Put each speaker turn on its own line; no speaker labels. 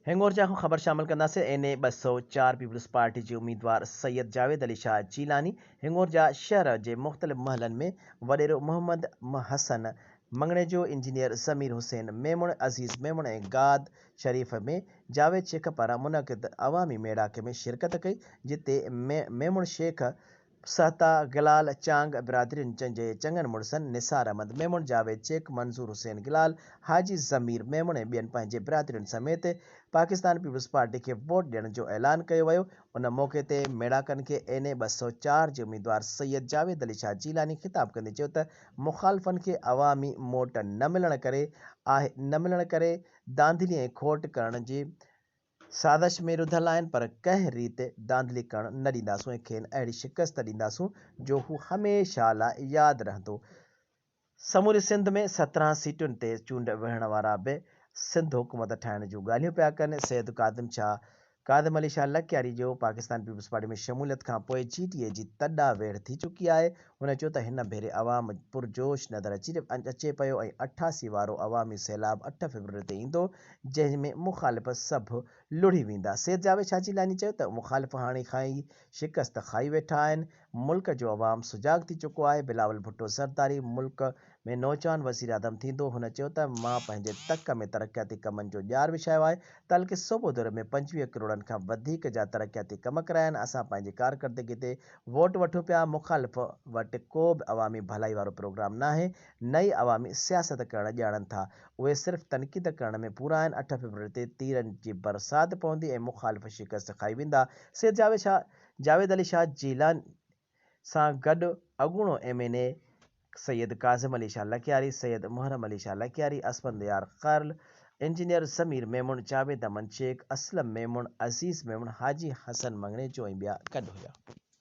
هينگور جي اهم خبر شامل ڪنداسين، اين اي ٻه سؤ چار پيپلز پارٽي جي اميدوار سيد جاويد علي شاهه جيلاني هينگور جا شهر جي مختلف محلن ۾ وڏيرو محمد م حسن مڱڻيجو، انجنيئر ضمير حسين ميمڻ، عزيز ميمڻ ۽ گاد شريف ۾ جاويد شيخ پاران منعقد عوامي ميڙاڪي ۾ شرڪت ڪئي جتي م ميمڻ شيخ، سهتا، گلال، چانگ برادرين جن جي چڱن مڙسن نثار احمد ميمڻ، جاويد شيخ، منظور حسين گلال، حاجي ضمير ميمڻ ۽ ٻين پنهنجي برادرين سميت پاڪستان پيپلز پارٽي کي ووٽ ڏيڻ جو اعلان ڪيو ويو ان موقعي تي ميڙاڪن کي اين اي ٻه سؤ چار جي اميدوار سيد جاويد علي شاهه جيلاني خطاب ڪندي چيو ته مخالفن کي عوامي موٽ نه ملڻ ڪري آهي نه ملڻ ڪري ڌانڌلي ۽ کوٽ ڪرڻ جي سازش ۾ رڌل آهن پر ڪنهن ريت ڌانڌلي ڪرڻ نه ڏينداسون ۽ کين اهڙي شڪست ڏينداسون جو هو هميشه لاء ياد رهندو. سموري سنڌ ۾ سترهن سيٽن تي چونڊ وڙهڻ وارا به سنڌ حڪومت ٺاهڻ جون ڳالهيون پيا ڪن. سيد ڪاظم شاهه ڪاظم علي شاهه لڪياري جو پاڪستان پيپلز پارٽي ۾ شموليت کان پوء جي ٽي اي جي تڏا ويڙهه ٿي چڪي آهي. هن چيو ته هن ڀيري عوام پرجوش نظر اچي اچي پيو ۽ اٺاسي وارو عوامي سيلاب اٺ فيبروري تي ايندو جنهن ۾ مخالف سڀ لڙهي ويندا. سيد جاويد شاهه جيلاني چيو ته مخالف هاڻي کان ئي شڪست کائي ويٺا آهن، ملڪ جو عوام سجاڳ ٿي چڪو آهي، بلاول ڀٽو زرداري ملڪ ۾ نوجوان وزيراعظم ٿيندو، هن چيو ته مان پنهنجي تڪ ۾ ترقياتي ڪمن جو ڄار وڇايو آهي، تعلقي صوبو دوري ۾ پنجويهه ڪروڙن کان وڌيڪ جا ترقياتي ڪم ڪرايا آهن، اسان پنهنجي ڪارڪردگي تي ووٽ وٺون پيا، مخالف وٽ ڪو به عوامي ڀلائي وارو پروگرام ناهي نه ئي عوامي سياست ڪرڻ ڄاڻن ٿا، اهي صرف تنقيد ڪرڻ ۾ پورا آهن، اٺ فيبروري تي تيرن جي برسات پوندي ۽ مخالف شڪست کائي ويندا، سيد جاويد علي شاهه جيلاني سان گڏ اڳوڻو M N A Syed Kazim Ali Shah Lakyari, Syed Muharram Ali Shah Lakyari, Asfandyar قرل، انجنيئر ضمير ميمڻ، جاويد امن شيخ، اسلم ميمڻ، عزيز ميمڻ، حاجي حسن مڱڻيجو ۽ ٻيا گڏ هيا.